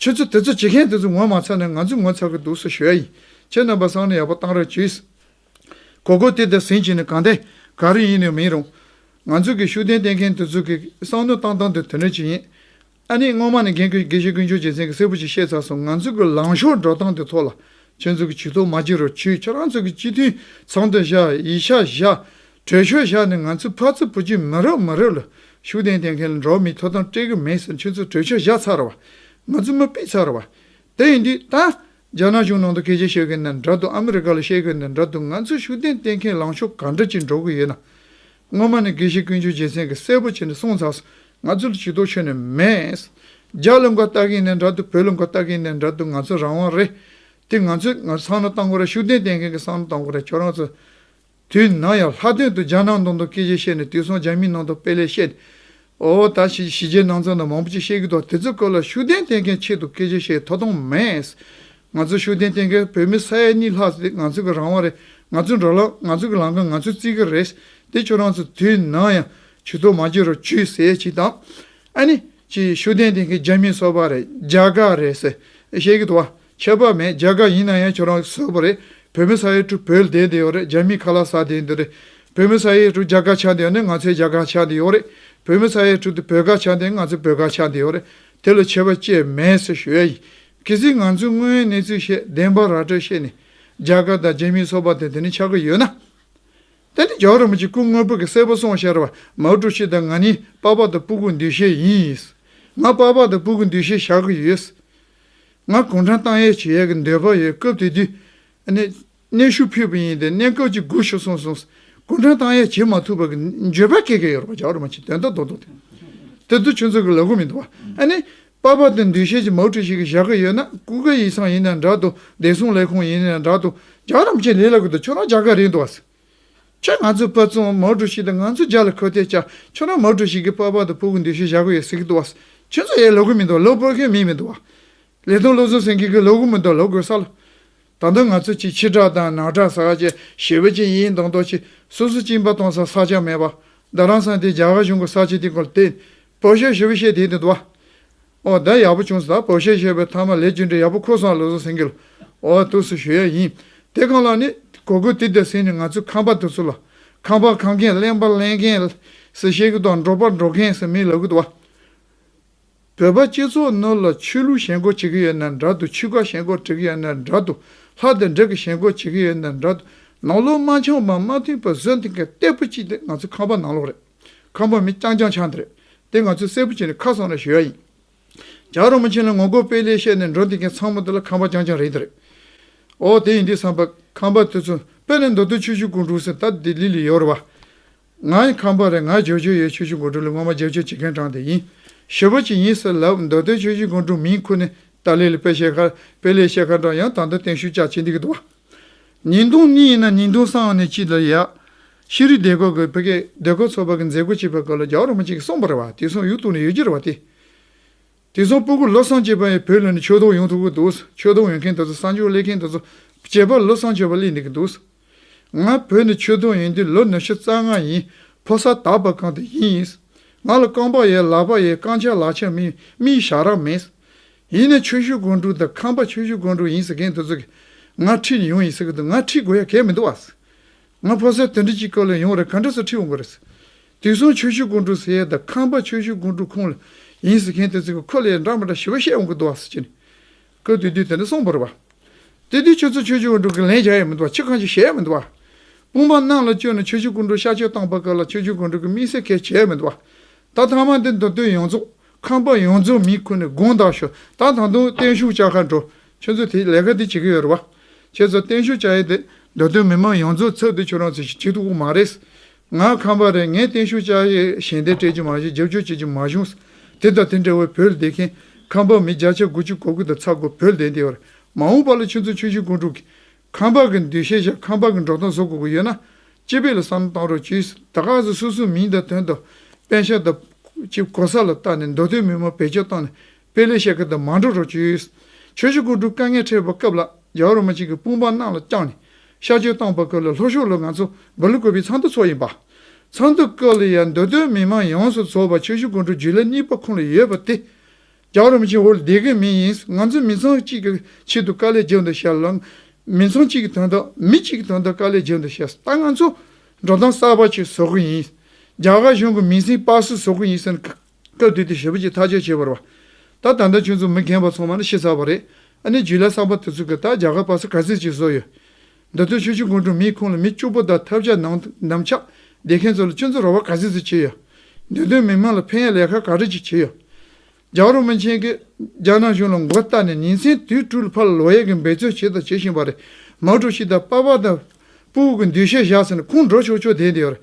ཁྱོད་ཚོ་དེ་ཚོ་བྱེད་མཁན་དེ་ཚོ་ངོ་མ་ཚ་ན་ང་ཚོས་ངོ་ཚ་གི་འདུག་སོ་ཞུ་ཡ་ཡིན་ཁྱེད་རྣམ་པ་སང་ནི་ཡག་པོ་གཏང་རོགས་གྱིས། གོ་གོ་དེ་ད་ཟིན་བྱས་ནས་གང་བསྡད་ག་རེ་ཡིན་ནི་མིན་རུང། ང་ཚོ་གི་ཤུགས་ལྡན་བསྟེན་མཁན་དེ་ཚོ་གི་བསམ་མནོ་བཏང་བཏང་དུ་དོན་གནད་ཅིག་ཡིན། ཨ་ནི་སྔོན་མ་ནས་རྒན་བཀུར་དགེ་བཤེས་ཀུན་སྤྱོད་ཅན་མཚན་གྱི་སྲས་པོ་ཞིག་ཤེས་ཚར་སོང་ང་ཚོས་ཀྱི་ལངས་ཕྱོགས་འགྲོ་སྟངས་དེ་ཐོག་ལ་ཁྱོད་ཚོས་ཀྱི་ཇུས་གཏོགས་མ་བགྱིད་རོགས་ཁྱོད་ཁྱོད་རང་ཚོས་ཀྱི་སྤྱི་འཐུས་ཚང་དུ་བཞག་ཡིག་ཆ་བཞག་གྲོས་ཆོད་བཞག་ནས་ང་ཚོས་ཕར་ཚུར་བུ་བགྱིད་མི་རོགས་མི་རོགས་ལ་ཤུགས་ལྡན་ལྡན་མཁན་ལ་འགྲོ་མི་ཐོབ་ཐང་སྤྲད་གི་མེད་ཟེར་ཁྱོད་ཚོས་གྲོས་ཆོད་བཞག་ཚར་བ་ང་ཚོས་མི་སྤེལ་ཚར་བ་དེ་ཡིན་དུས་ད་རྒྱ་ནག་གཞུང་ནང་དུ་སྐད་ཆ་བཤད་མཁན་དང་འདྲ་འདུག་ཨ་མི་རི་ཀ་ལ་བཤད་མཁན་དང་འདྲ་འདུག་ང་ཚོས་ཤུགས་ལྡན་བསྟེན་མཁན་ལངས་ཕྱོགས་ག་འདྲ་ཅིག་འགྲོ་གི་ཡོད་ན། སྔོན་མ་ནས་དགེ་བཤེས་ཀུན་སྤྱོད་རྒྱལ་མཚན་གྱིས་གསལ་པོ་བྱས་ནས་གསུངས་ཚར་སོང། ང་ཚོ་ལ་ཇུས་གཏོགས་ཆོད་ནས་མེད། རྒྱ་ལ་མགོ་བཏགས་ཀིན་ནས་འདྲ་འདུག་བོད་ལ་མགོ་བཏགས་ཀིན་ནས་འདྲ་འདུག་ང་ཚོ་རང་དབང་རེད། དེ་ང་ཚོའི་ང་ཚོའི་ཚང་ནོ་གཏང་གོ་རེད་ཤུགས་ལྡན་བསྟེན་མཁན་གྱི་ཚང་ནོ་གཏང་གོ་རེད་ཁྱོད་རང་ཚོ། དུས་ནང་ཡང་ལྷག་དོན་དུ་རྒྱ་ནག་ནང་དུ་སྐད་ཆ་བཤད་ནས་དུས་སང་རྒྱ་མིའི་ནང་དུ་དཔེ་ལས་བཤད། ཨོ་ཨོ་ད་ཕྱིས་གཞིས་བྱེས་ནང་ཚོ་ནང་མང་པོ་ཅིག་ཤེས་ཀྱི་འདུག་དེ་ཚོའི་སྐོར་ལ་ཤུགས་ལྡན་བསྟེན་མཁན་ཆེད་དུ་སྐད་ཆ་བཤད་ཡོད་ཐོ་ཐོང་མེད། ང་ཚོ་ཤུགས་ལྡན་བསྟེན་མཁན་བོད་མི་ས་ཡ་གཉིས་ལྷག་ཙམ་དེ་ང་ཚོ་གི་རང་དབང་རེད་ང་ཚོའི་འགྲོ་ལམ་ང་ཚོ་གི་ལམ་ཁ་ང་ཚོས་རྩིས་ཀྱི་རེད་དེ་ཁྱོད་རང་ཚོ་དུས་ནམ་ཡང་བྱུས་ཐོ་མ་བྱེད་རོགས་བྱུས་ཟེར་ཡས་ཅིག་དང། ཨ་ནི། ཅིག་ཤུགས་ལྡན་བསྟེན་མཁན་རྒྱ་མི་སོ་པ་རེད་རྒྱ་དགའ་རེད་ཟེར་བཤད་ཀྱི་འདུག་བ། ཁྱད་པར་མེད་རྒྱ་གར་ཡིན་ན་ཡང་ཁྱོད་རང་བཟོས་པ་རེད་བོད་མི་ས་ཡའི་ཁྲུ་བོད་ལྡན་དེ་ཡོད་རེད་རྒྱ་མིའི་ཁ་ལ་ཟ་དེ་འདི་རེད་བོད་མི་ས་ཡའི་ཁྲུ་རྒྱ་གར་ཆགས་འདི་ཡོད་ནི་ང་ཚོའི་རྒྱ་གར་ཆགས་འདི་ཡོད་རེད་བོད་མི་ས་ཡའི་ཁྲུ་དུ་བོད་གར་ཆགས་འདི་ང་ཚོའི་བོད་གར་ཆགས་འདི་ཡོད་རེད་དེ་ལ་ཁྱད་པར་བཅས་མེད་ཟེར་ཞོད་ཡ་ཡིན་གལ་སྲིད་ང་ཚོས་དངོས་ཡོད་གནས་ཚུལ་བཤད་བདེན་པ་ར་སྤྲོད་བྱས་ནས་རྒྱ་གར་དང་རྒྱ་མིའི་ཚོགས་པ་དེ་དེ་ནི་ཆགས་ཀྱི་ཡོད་ན། དེ་ནི་རྒྱ་རོ་མ་གཅིག་སྐུ་དངོས་པོ་གི་སྲས་པོ་སོང་ཤར་བ་མའོ་ཀྲུའུ་ཞི་དང་ང་ནི་དཔའ་བ་དང་སྤུ་གུ་འདུས་ཤེས་ཡིན། ང་དཔའ་བ་དང་སྤུ་གུ་འདུས་ཤེས་བཞག་གི་ཡོད། ང་གུང་ཁྲན་ཏང་ཡལ་བྱེད་ཡས་གི་འདོད་པ་ཡོད་སྐབས་དེ་དུས། གནས་ཤུགས་ཕུད་པ་ཡིན་ཏེ་གནས་སྐབས་ཅིག་སྒུག་ཤོག་གསུངས་སོང། གུང་ཁྲན་ཏང་ཡལ་བྱེད་མ་ཐུབ་པ་གི་འགྱོད་པ་ཁེགས་ཁེགས་ཡོད་རེད་བ་ཇག་རུ་མ་ཆིག་དོན་ལྟ་མདོག་མདོག་དེ། དེ་དུས་ཁྱོད་ཚོ་གི་ལ་སྒོ་མི་འདུག་བ། ཨ་ནི། པར་པར་དེ་འདུས་ཤེས་ཀྱི་མའོ་ཀྲི་ཞིག་གི་བཞག་གི་ཡོད་ན་ཀུ་ཀེ་ཡིག་ཚང་ཡིན་ནའི་འདྲ་འདུག་བདེ་སྲུང་ལས་ཁུངས་ཡིན་ནའི་འདྲ་འདུག་ཇག་རམ་ཆེན་ལྷས་ལ་གུ་དང་ཁྱོད་རང་ཇག་ག་རེད་འདུག་བ། ཁྱོད་ང་ཚོའི་པ་ཙུང་མའོ་ཀྲུའུ་ཞི་དང་ང་ཚོའི་རྒྱ་ལ་འཁོད་དེ་ཅག་ཁྱོད་རང་མའོ་ཀྲུའུ་ཞི་གི་པ་པ་དང་བུ་གི་འདུ་ཤེས་བཞག་གི་ཡོད་ཟེར་གི་འདུག་བ། ཁྱོད་ཚོ་ཡའི་ལོ་གུ་མིན་འདུག་བ་ལོ་པོར་ཁའི་མི་མིན་འདུག་བ། ལེ་ཐུང་བློ་བཟང་སེང་གེ་གི་ལོ་གུ་མིན་འདུག་བ་ལོ་གོས་ས་ལོ། ད་དུང་ང་ཚོ་གཅིག་ཕྱི་བྲག་དང་ནང་བྲག་ས་ག་བཅས་ཞི་བ་ཅན་ཡིན་མདོག་མདོག་གཅིག་སོ་སོ་གཅིག་ཡིན་པ་སྟོང་ས་ས་ཆ་མེད་བ། བདག་རང་ས་འདི་རྒྱ་གར་གཞུང་གི་ས་ཆ་དེ་གོ་ལ་དེ། པོ་ཞོ་ཞི་བ་ཤེས་དེ་དེ་འདུག་བ། ཨོ་ད་ཡག་པོ་བྱུང་བཟའ་བོ་བཤད་ཤེས་པའི་མཐའ་མ་ལས་ཅི་འདྲའི་ཡག་པོ་ཁོ་སང་ལོ་སོ་སེང་གེ་ལ་འོ་ཐུགས་སུ་ཞུ་ཡ་ཡིན་དེ་གང་ལགས་ནི་གོ་གོ་ཏི་ཏི་སེང་ནི་ང་ཚོའི་ཁང་པ་དུ་སུ་ལ་ཁང་པ་ཁང་མཁན་གླེན་པ་གླེན་མཁན་སེ་བཤད་གི་དོ་འགྲོ་པ་འགྲོ་མཁན་སེ་མི་ལབ་གི་དོ་བོད་པ་སྤྱི་ཚོགས་ནོར་ལ་ཆོས་ལུགས་ཞེན་ཁོག་བྱེད་གི་ཡོད་ནའི་འདྲ་དུ་ཆུ་ཁ་ཞེན་ཁོག་བྲེག་གི་ཡོད་ནའི་འདྲ་དུ་ལྷ་དེ་འདྲེ་གི་ཞེན་ཁོག་བྱེད་གི་ཡོད་ནའི་འདྲ་དུ་ནང་ལོག་དམར་འཆང་བ་མ་མཐུན་པ་བཟོས་འདུག་གི་སྟེགས་བུ་གཅིག་དེ་ང་ཚོའི་ཁང་པ་ནང་ལོག་རེད། ཁམས་པ་མི་རྐྱང་རྐྱང་ཆགས་འདི་རེད། དེ་ང་ཚོས་གསལ་པོ་བྱས་ནས་ཁ་སང་ལ་ཞུ་ཡག་ཡིན། རྒྱ་རོ་མ་ཆིན་ལ་ངོ་རྒོལ་སྤེལ་སླད་བཤད་ནས་འགྲོ་འདི་མཁན་ཚང་མ་འདི་ལ་ཁམས་པ་རྐྱང་རྐྱང་རེད་འདི་རེད། ཨོ་དེ་ཡིན་དུས་བསམ་པ་ཁམས་པ་དེ་ཚོ་དཔེ་ལས་མདོ་སྟོད་ཆོས་ཞུ་དགོས་འདུག་ཟེར་ད་ལྡི་ལི་ལ་ཡོད་རེད་བ། ང་ཡིན་ཁམས་པ་རེད་ང་བརྗོད་བྱོས་ཡོད་ཆོས་ཞུ་དགོས་འདུག་ལ་ངོ་མ་བརྗོད་བྱོས་བྱེད་མཁན་དྲང་དེ་ཡིན། ཞུ་བ་ཅིག་ཡིན་ཟེར་ལབ་མདོ་སྟོད་ཆོས་ཞུ་དགོས་འདུག་མིན་ཁུ་ནི་ཏཱ་ལའི་ལ་དཔེ་བཤད་ཁར་དཔེ་ལས་བཤད་ཁར་འདྲ་ཡང་ད་ལྟ་བརྟན་བཞུགས་བཅའ་བྱེད་འདི་གི་འདུག་བ། ཉིན་གདུང་གཉིས་ཡིན་ན་ཉིན་གདུང་སང་ནས་གཅིག་ལ་ཡག། ཤེས་རིག་སྡེ་ཁག་གི་བོད་སྐད་སྡེ་ཁག་ཚོགས་པ་གི་མཛད་སྒོ་བྱེད་པའི་སྐབས་ལ་རྒྱ་གར་མི་གཅིག་གིས་གསུངས་པར་བ་དེ་མཚུངས་ཡུལ་དུ་ནས་ཡོད་རྒྱུ་རེད་བ་སྟེ། དེ་མཚུངས་སྤོ་སྒུར་བློ་བཟང་ཅེས་པ་ཡང་བོད་ལ་ནས་ཆོས་དོགས་ཡོང་ཐུབ་གི་འདུག་ཆོས་དོགས་ཡོང་མཁན་དེ་ཚོ་གསང་སྤྱོད་སླེབས་མཁན་དེ་ཚོ་བྱེད་པར་བློ་བཟང་ཆོས་པ་སླེབས་འདི་གི་འདུག་ང་བོད་ནས་ཆོས་དོགས་ཡོང་དུས་ལོ་ནུ་ཞོ་རྩ་ལྔ་ཡིན་ཕོ་སར་དར་བ་གང་དུ་ཡིན་ཡིན། ང་ལ་རྐང་པ་ཡོད་ལག་པ་ཡོད་རྐང་ཆག་ལག་ཆག་མིན་མིའི་ཞག་རག་མེད། ཡིན་ནས་ཆོས་ཞུ་དགོན་དྲུག་དང་ཁམས་པ་ཆོས་ཞུ་དགོན་དྲུག་ཡིན་ཟེར་མཁན་དེ་ཚོ་གིས་ང་ཁྲིད་ནས་ཡོང་ཡིན་ཟེར་གི་འདུག་ང་ཁྲིད་དགོས་ཡ་གལ་མི་འདུག་བ། ང་ཕོ་སར་དེ་འདྲ་གཅིག་སྐོར་ལ་ཡོང་རེ་ག་འདྲ་སོ་ཁྲིད་འོང་གི་རེད། དེང་སང་ཆོས་ཞུ་དགོང་དྲུག་ཟེར་ཡས་དང་ཁང་པ་ཆོས་ཞུ་དགོང་དྲུག་ཁོངས་ལ་ཡིན་ཟེར་མཁན་དེ་ཚོ་གི་ཁོ་ལ་ཡས་འདྲ་མ་འདྲ་ཞི་བ་བཤད་འོང་གི་འདུག་བ་ཟེར་གྱི་ཀོ་དུས་དུས་དེ་འདྲ་སོང་བོར་བ། དུས་དུས་ཁྱོད་ཚོ་ཆོས་ཞུ་དགོང་དྲུག་གི་ལན་བཞག་ཡས་མི་འདུག་བ་ཕྱི་གང་ཞིག་བཤད་ཡས་མི་འདུག་བ། དཔུང་པ་ནང་ལ་བསྐྱོན་ནས་ཆོས་ཞུ་དགོང་དྲུག་ཤག་ཆོས་བཏང་པ་སྐབས་ལ་ཆོས་ཞུ་དགོང་དྲུག་གི་དམིགས་བསལ་གལ་ཆེ་ཡས་མི་འདུག་བ། ད་ཐང་མ་འདི་མདོ་སྟོད་ཡོངས་རྫོགས་ཁང་པ་ཡོངས་རྫོགས་མི་ཁུར་ནས་དགོང་དག་ཞོག་ད་ད་དུང་བརྟན་བཞུགས་བཅའ་ཁ་འགྲོ་ཁྱོད་ཚོས་དེ་ལས་ཀ་དེ་བྱེད་ཀྱི་ཡོད་རེད་བ། ཁྱེད་ཚོ་བརྟན་བཞུགས་བྱ་ཡས་དེ་འདོད་དོན་མི་མང་ཡོངས་རྫོགས་ཚབ་དེ་ཁྱོད་རང་ཚོས་བྱེད་ཀྱི་དགོས་མ་རེད། ང་ཁམས་པ་རེད་ངས་བརྟན་བཞུགས་བྱ་ཡས་ཞལ་འདེབས་སྤྲད་ཀྱི་མ་བཞུགས་རྗེབ་གཅོད་བྱེད་ཀྱི་མ་བཞུགས། དེ་དང་དེ་འདྲ་བའི་བོད་སྡེ་མཁན་ཁམས་པ་མི་བརྒྱ་ཆ་དགུ་བཅུ་གོ་གི་དང་ཚ་གོ་བོད་སྡེ་འདི་བར་མ་འོངས་པ་ལ་ཁྱོད་ཚོ་ཆོས་བཞིན་སྐུ་འཁྲུག་གི། ཁམས་པ་གི་འདུས་ཤེས་བྱ་ཁམས་པ་གི་འགྲོ་སྟངས་བཟོ་དགོས་ཀྱི་ཡོད་ན། སྤྱི་དཔེ་ལ་བསམ་བློ་བཏང་རོགས་གྱིས་ད་ག་ཟེ་སོ་སོའི་མིང་དང་དོན་དང། དཔེ་ཆ་དང། གོ་ས་ལ་བལྟ་ནས་འདོད་དོན་མི་མང་བེད་སྤྱོད་བཏང་ནས། དཔེ་ལེགས་བཤད་ཁ་དང་མ་འགྲོགས་གྲོགས་བྱོས། ཆོས་རྗེ་སྐུ་དྲུག་བཀའ་ངལ་འཕྲད་པའི་སྐབས་ལ་རྒྱ་རོ་མ་གཅིག་གི་དཔུང་པ་རྣམས་ལ་བཅངས་ནས་ཤར་ཆོས་གཏང་བར་ཀཱི་ལ་ལྷོ་ཤོག་ལོ་ང་ཚོ་འབུར་ལུ་བཀོད་པའི་ཚང་དུ་ཚོགས་ཡིན་པ། ཚང་དུ་ཀཱི་ལ་ཡང་འདུ་སྟོད་མི་མང་ཡོངས་སུ་ཚོགས་པ་ཆོས་རྗེ་སྐུ་དྲུག་རྒྱུད་ལ་གཉིས་པ་ཁོང་ལ་ཡོད་པ་སྟེ། རྒྱ་རོ་མ་གཅིག་ཧོར་སྡེ་གི་མི་ཡིན་ང་ཚོ་མི་ཚང་གཅིག་གི་ཆེད་དུ་ཀཱི་ལའི་རྗེས་འདུག་བཤད་ལ། མི་ཚང་གཅིག་གི་དོན་དག་མི་གཅིག་གི་དོན་དག་ཀཱི་ལའི་རྗེས་འདུག་བཤད་ད་ང་ཚོ་འགྲོ་སྟངས་གསར་པ་ཞིག་བཟོ་གི་ཡིན། རྒྱ་གར་གཞུང་གི་མིང་སྲིང་སྤ་སུ་བཟོ་གི་ཡིན་ཟེར་ནས་སྐབས་དེ་དུས་ཞེ་པོ་ཅིག་ཐག་གཅོད་བྱས་པར་བ། ད་ད་ལྟ་ཁྱོད་ཚོ་མི་རྒན་པ་ཚང་མ་ནི་ཤི་ཚར་བ་རེད། ཨ་ནེ་ཇུ་ལཱ་བསམ་པ་དེ་ཚོ་གིས་ད་རྒྱ་གར་བར་སྲིད་ག་ཚོད་ཅིག་བཟོ་ཡོད། འདི་ཚོས་ཆོས་བྱེད་མགོ་འཁྲུངས་མིའི་ཁོངས་ལ་མི་སྐྱུག་པོ་དང་ཐབས་ཆག་ནམ་ཆག་འདེད་མཁན་ཚོ་ལ་སྤྱི་ཚོགས་ར་བ་ག་ཚོད་ཅིག་བྱས་ཡོད། འདི་དོན་མི་མང་ལ་ཕན་ཡ་ལས་ཁ་ག་རེ་ཅིག་བྱས་ཡོད། ཇག་རོ་མི་ཆེན་གིས་རྒྱ་ནག་གཞུང་ལ་མགོ་བཏགས་ནས་ཉིན་མཚན་དུས་དྲུག་ལ་ཕར་ལ་ལོག་ཡལ་གྱི་འབད་བརྩོན་བྱས་དང་བྱེད་བཞིན་པ་རེད། མཱོ་ཀྲུའུ་ཞི་དང་པཱ་པཱ་དང་པུའུ་ཀི་འདུས་ཤེས་བཞག་ཟེར་ནས་ཁུངས་འགྲོ་ཆོག་ཆོག་བསྡད་འདི་ཡོད་རེད།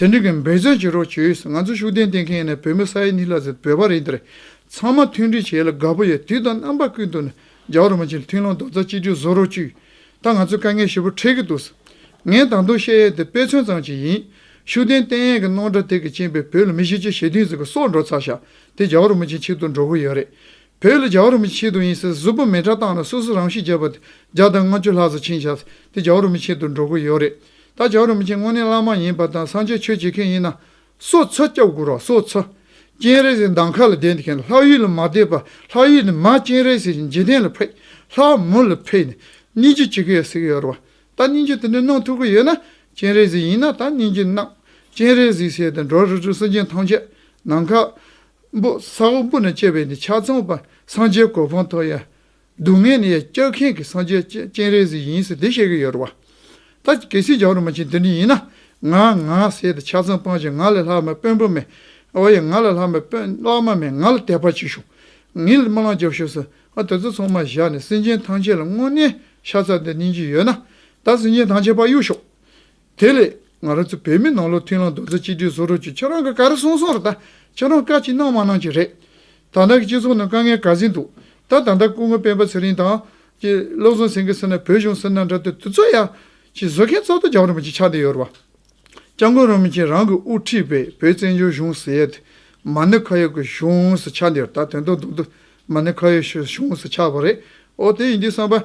དེ་འབྲེལ་གྱི་འབད་བརྩོན་བྱེད་རོགས་བྱོས། ང་ཚོ་ཤུགས་ལྡན་བསྟེན་མཁན་ནི་བོད་མི་ས་ཡ་གཉིས་ལྷག་ཟེར་བོད་པ་རེད་འདིར་ཚང་མ་མཐུན་སྒྲིལ་བྱས་ལ་དགའ་པོ་ཡོད་དུས་དང་རྣམ་པ་ཀུན་ཏུ་ནི་རྒྱ་བོད་རོ་མ་ཆེ་ལ་མཐུན་ལོང་རྡོག་རྩ་གཅིག་སྒྲིལ་བཟོ་རོགས་བྱོས། ད་ང་ཚོས་དཀའ་ངལ་ཞེ་པོ་འཕྲད་ཀྱི་འདུག་ངས་ད་དུང་བཤད་ཡས་དེ་དཔེ་མཚོན་ཙམ་ཞིག་ཡིན། ཤུགས་ལྡན་བསྟེན་ཡས་ཀྱི་རྣོ་འདྲ་དེ་གི་ཅན་པའི་བོད་ལ་མི་གཞི་ཆེ་ཞེ་དུས་ཟིག་གི་སོག་འགྲོ་ཚར་ཤག་དེ་རྒྱ་བོད་རོ་མ་ཆེ་ཆེད་དུ་འགྲོ་གི་ཡོད་རེད། བོད་ལ་རྒྱ་བོད་རོ་མ་ཆེ་ཆེད་དུ་ཡིན་ཟེར་གཟུགས་པོ་མེ་ཁྲ་བཏང་ལ་སོ་སོ་རང་ཤི་བྱས་པ་དེ་བརྒྱ་དང་ལྔ་བཅུ་ལྷག་ཟ་ཆིན་ཤག་དེ་རྒྱ་བོད་རོ་མ་ཆེད་དུ་འགྲོ་གི་ཡོད་རེད། ད་ཇོ་རིན་པོ་ཆེ་དངོས་གནས་བླ་མ་ཡིན་པ་དང་སངས་རྒྱས་ཆོས་བྱེད་མཁན་ཡིན་ན། སོ་ཚོད་སྐྱབས་དགོས་རོགས་སོ་ཚོད། སྤྱན་རས་གཟིགས་འདམ་ཁ་ལ་བསྡད་མཁན་ལྷ་ཡུལ་ལ་མ་བསྡད་པར་ལྷ་ཡུལ་ནས་མ་སྤྱན་རས་གཟིགས་ཀྱི་འཇིག་རྟེན་ལ་ཕེབས་ལྷ་མོ་ལ་ཕེབས་ནས་སྙིང་རྗེ་བྱེད་ཀྱི་ཡོད་ཟེར་གྱི་ཡོད་རེད་བ། ད་སྙིང་རྗེ་དེ་འདྲ་གནང་ཐུབ་ཀྱི་ཡོད་ན་སྤྱན་རས་གཟིགས་ཡིན་ན་ད་སྙིང་རྗེ་གནང། སྤྱན་རས་གཟིགས་ཟེར་དེ་འགྲོ་རུ་ཆུ་སྲིན་ཅན་ཐམས་ཅད་ནམ་མཁའ་སྤུ་ས་འོག་སྤུ་ནས་སྐྱེས་པའི་འདི་ཆ་ཚང་བ་སངས་རྒྱས་གོ་འཕང་ཐོབ་ཡ། སྡུག་བསྔལ་ནི་སྐྱག་མཁན་གྱི་སངས་རྒྱས་སྤྱན་རས་གཟིགས་ཡིན་ཟེར་དེ་བཤད་ཀྱི་ཡོད་རེད་བ། ད་གལ་སྲིད་རྒྱ་རོ་མ་ཆེན་དེ་འདྲ་ཡིན་ན་ང་ང་ཟེར་ཏེ་ཆ་ཚང་སྤངས་ཤིག་ང་ལས་ལྷག་མ་དཔོན་པོ་མེད་འོ་ཡ་ང་ལས་ལྷག་མ་དཔོན་ལྷག་མ་མེད་ང་ལ་དད་པ་བྱེད་ཤོག་ངའི་རྨི་ལམ་རྒྱབ་ཤོག་ཟེར་ང་དེ་ཚོ་ཚང་མ་བཞག་ནས་སེམས་ཅན་ཐམས་ཅད་ལ་དངོས་གནས་ཤ་ཚ་དེ་གནས་ཀྱི་ཡོད་ན་ད་སེམས་ཅན་ཐམས་ཅད་བག་ཡོད་ཤོག་དེ་ལས་ང་རང་ཚོ་བོད་མི་ནང་ལོག་མཐུན་ལམ་རྡོག་རྩ་གཅིག་སྒྲིལ་བཟོ་རོགས་གྱིས་ཁྱེད་རང་གི་ག་རེ་གསུང་གསུང་རེད་ད་ཁྱེད་རང་བཀའ་ཅི་གནང་མ་གནང་གཅིག་རེད། ད་ལྟ་གི་སྤྱི་ཚོགས་ནང་དཀའ་ངལ་ག་ཟིག་འདུག་ད་ད་ལྟ་སྐུ་ངོ་སྤེན་པ་ཚེ་རིང་དང། བློ་བཟང་སེང་གེ་སེར་ནག་བོད་གཞུང་སེར་ནག་འདྲ་དེ་དུ་ཚོད་ཡ། ཅིག་བཟོ་མཁན་གཙོ་དོ་རྒྱ་རོ་མ་ཅིག་ཆགས་བསྡད་ཡོད་རེད་བ། སྐྱབས་མགོན་རོ་མ་ཅིག་རང་གི་དབུ་ཁྲིད་པའི་བོད་བཙན་བྱོལ་གཞུང་ཟེར་ཡ་དེ་མ་ཎི་ཁ་ཡོག་གི་གཞུང་སུ་ཆགས་འདི་རེད་ད་དོན་དུ་འདུག་དུ་མ་ནི་ཁ་ཡོག་གཞུང་སུ་ཆགས་པ་རེད་ཨོ་དེ་ཡིན་དུས་བསམ་པ།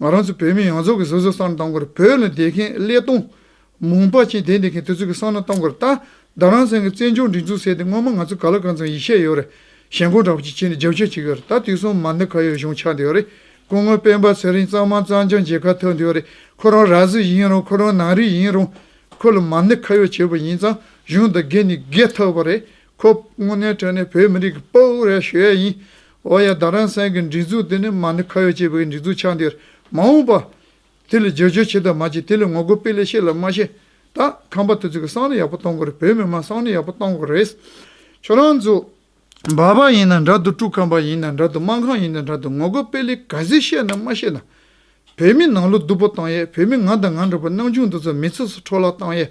ང་རང་ཚོ་བོད་མི་ཡོངས་རྫོགས་ཀྱི་སོ་སོའི་སར་འདང་དགོས་རེད་བོད་ལ་བསྡད་མཁན་ཀླད་སྟོང། མུང་པ་ཅན་དེ་འདི་མཁན་དེ་ཚོ་གི་སར་ན་བལྟ་འགོ་རེད་ད་རང་བཙན་གྱི་བཙན་བྱོལ་སྒྲིག་འཛུགས་ཟེར་དེ་སྔོན་མ་ང་ཚོ་ག་ལ་གང་ཚང་ཡིད་ཆད་ཡོད་རེད་ཞེན་ཁོག་འདྲ་པོ་ཅིག་བྱེད་ནས་རྒྱབ་སྐྱོར་བྱེད་གི་ཡོད་རེད་ད་དུས་གསུམ་མ་འདི་ག་ཡོད་གཞུང་ཆགས་འདི་ཡོད་རེད་སྐུ་ངོ་སྤེན་པ་ཚེ་རིང་གཙང་མ་གཙང་སྐྱོང་བྱེད་ཁ་ཐོན་འདི་ཡོད་རེད་ཁོ་རང་ར་བཟི་ཡིན་རུང་ཁོ་རང་ནང་རིགས་ཡིན་རུང། ཁོ་ལ་མ་འདི་ག་ཡོད་བྱེད་པ་ཡིན་ཙང་གཞུང་འདི་རྒས་ནི་རྒས་ཐག་པ་རེད་ཁོ་དངོས་གནས་ཁྲོན་ནི་བོད་མི་རིགས་ཀྱི་དཔའ་བོ་རེད་ཞུ་ཡས་ཡིན། འོ་ཡ་ད་རང་སེང་གི་འགྲིག་འཛུགས་དེ་ནི་མ་ནི་ཁ་ཡོ་ཅེས་པའི་འགྲིག་འཛུགས་ཆགས་འདིར་མ་འོངས་པ། དེ་ལས་བརྗོད་བྱའི་ཆེད་དུ་མ་ཅིག་དེ་ལས་ངོ་རྒོལ་སྤེལ་ལས་ཤེས་ལ་མ་ཤེས། ད་ཁམས་པ་དེ་ཚོས་གི་སང་ནི་ཡག་པོ་གཏོང་དགོས་རེད་བོད་མི་དམངས་སང་ནི་ཡག་པོ་གཏོང་དགོས་རེད། ཁྱོད་རང་ཚོ། འབའ་པ་ཡིན་ན་འདྲ་དུ་ཀྲུག་ཁམས་པ་ཡིན་ན་འདྲ་དུ་དམངས་ཁང་ཡིན་ན་འདྲ་དུ་ངོ་རྒོལ་སྤེལ་ལས་ག་ཟིག་ཤེས་ན་མ་ཤེས་ན། བོད་མི་ནང་ལོག་སྡུག་པོ་བཏང་ཡས་བོད་མི་ང་དང་ང་འདྲ་པོ་སྣང་ཆུང་འདི་ཚོ་མི་ཚེ་སུ་འཕྲོ་བརླག་བཏང་ཡས།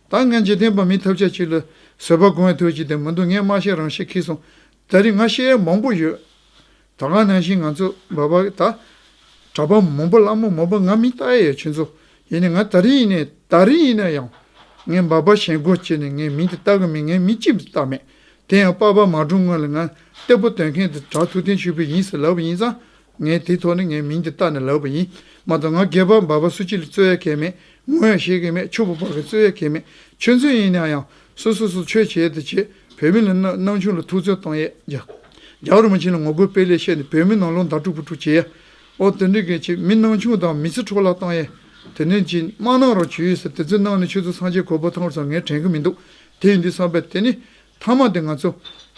ད་ངས་འཇིག་རྟེན་པ་མིའི་ཐབས་ཆག་ཅིག་ལ་བཟོད་པ་སྒོམ་བའི་དུས་ཅིག་དེ་མི་འདུག་ངས་སྨྲ་ཤེས་རང་ཤེས་ཁེགས་སོང། ད་རེས་ང་ཤེས་ཡ་མང་པོ་ཡོད། ད་ག་ནང་བཞིན་ང་ཚོ་འབའ་བ་ད། གྲྭ་པ་མང་པོ་བླ་མ་མང་པོ་ང་མི་ལྟ་ཡས་ཁྱོད་ཚོ། ཡིན་ནས་ང་ད་རེས་ཡིན་ནས་ད་རེས་ཡིན་ན་ཡང། ངས་འབའ་པ་ཞེན་གོ་བྱས་ནས་ངས་མི་འདི་ལྟ་གི་མེད་ངས་མི་གཅིག་འདི་ལྟ་མེད། དེ་ཡང་པ་པ་མ་སྒྲུང་སྔོན་ལ་ང་གཏེ་པོ་དོན་མཁན་དེ་གྲྭ་ཐུགས་རྟེན་ཞུས་པས་ཡིན་ཟེར་ལབ་ཡིན་ཙང་ངས་དེའི་ཐོག་ནས་ངའི་མིང་དེ་བཏགས་ནས་ལབ་པ་ཡིན། མ་གཏོགས་ང་སྒལ་པར་འབབ་པ་སུ་གཅིག་ལ་རྩོད་ཡ་གལ་མེད། ངོ་ཡང་ཤེས་གི་མེད་ཕྱུག་པོ་བར་གྱི་རྩོད་ཡ་གལ་མེད། ཆོས་མཚོན་ཡིན་ན་ཡང་སོ་སོ་སོ་ཆོས་བྱེད་དེ་བྱེད། བོད་མི་ལ་སྣང་ཆུང་ལ་ཐུགས་རྩོད་གཏོང་ཡས་རྒྱ། རྒྱ་རུ་མ་ཕྱིན་ལ་ངོ་རྒོལ་སྤེལ་ལས་ཤེས་ནས་བོད་མི་ནང་ལོག་འདར་དཀྲུག་པོ་དཀྲུག་བྱེད་ཡས། ཨོ་དེ་འདྲའི་གལ་ཆེ་མི་སྣང་ཆུང་དང་མི་ཚེ་འཕྲོ་བརླག་གཏང་ཡས། དེ་འདྲའི་ཅི་མ་གནང་རོགས་བྱོས་ཟེར་དེ་ཚོའི་གནང་ནས་ཆོས་ཚོགས་ཚང་ཆེད་གོ་བོ་ཐང་བར་སོང་ངས་དྲན་གི་མི་འདུག་དེ་ཡིན་དུས་བསམ་པས་དེ་ནི། མཐའ་མ་དེ་ང་ཚོ།